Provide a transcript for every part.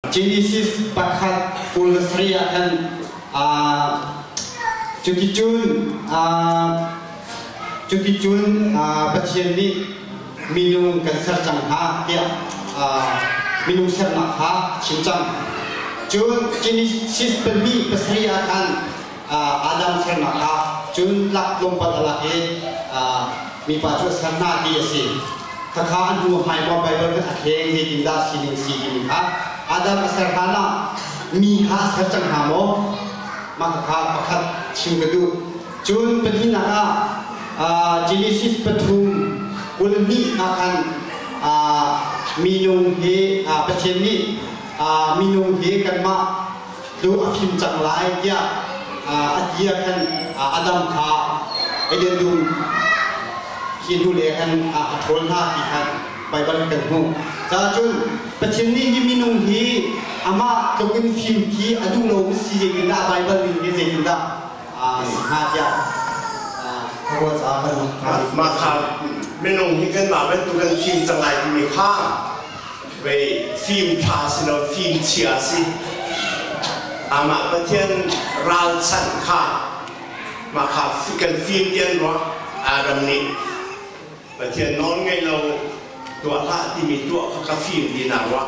Genesis pakhat kul le sari ah khan cuticun cuticun Pathian nih minung kan ser cang hna tiah minung sernak kha a chim cang. Cun Genesis pahnih pasarih ah khan Adam thlennak kha cun lak tlawmpal a lak i mipa cu a ser hna ti a si. Khakha an hnu hmai maw Baibal kan a thleng zeitin dah sining si timi kha Adam a ser hna la mi kha a ser cang hna maw? Mah khakha pakhat chim ka duh. Cun pahnihnak ah Genesis pathum kul hnih ah khan minung hi Pathian nih minung hi kanmah lu a fim cang lai tiah a ti ah khan Adam kha Eden dum hi hnule khan a ṭhawl hna ti kha Baibal kan hmuh. Cahcun Pathian nih hi minung hi amah tluk in fim khi a duh lomi si zeitindah Baibal nih hi zeitindah a si hnga tiah Mah kha minung hi kanmah bantuk kan fim cang lai timi kha Vei fimtha si lo fimchia si. Amah Pathian ralchanh kha mah kha kan fim tian rua Adam nih Pathian nawl ngeih lo tuah hlah timi tuah kha ka fim ti na rua.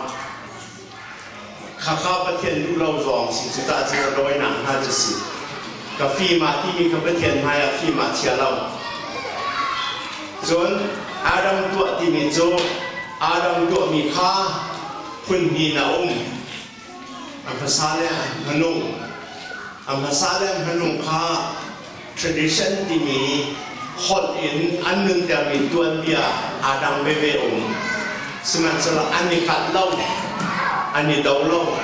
Khakha Pathian duh lo zong a si cu ta cu ka dawinak hna cu si. Ka fim ah timi kha Pathian hmaiah fim ah chia lo. Cun Adam tuah timi cu Adam tuahmi kha phun hnih a um. A hmasa le a hmanung. A hmasa le a hmanung kha Tradition timi holh in an nuntermi tuanbia aa dang veve um. Sihmanhsehlaw an i kat lo, an i do lo,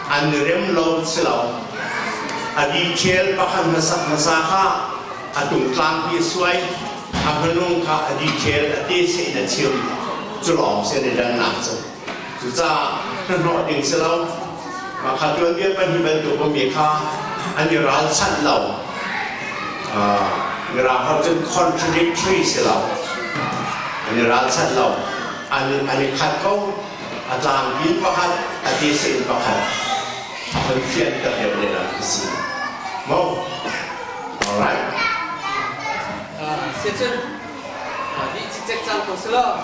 an i rem lo si lo. A detail pakhat hmasak hmasa kha a tungtlang hi suai, a hmanung kha a detail a te sein a chim. Cu lawng si an i dannak cu. Cucaah nan ruah ding si lo. Mah kha tuanbia pahnih bantuk ummi kha an i ralchanh lo. Uh, mirang ho cun contradictory si lo. An i ralchanh lo. An, an i khat ko. A tlangpi pakhat, a tisen pakhat. Nan fian ka deuh le nan si. Mo? Alright. Ah, siacun, ah, ni cikcek cang ko si lo.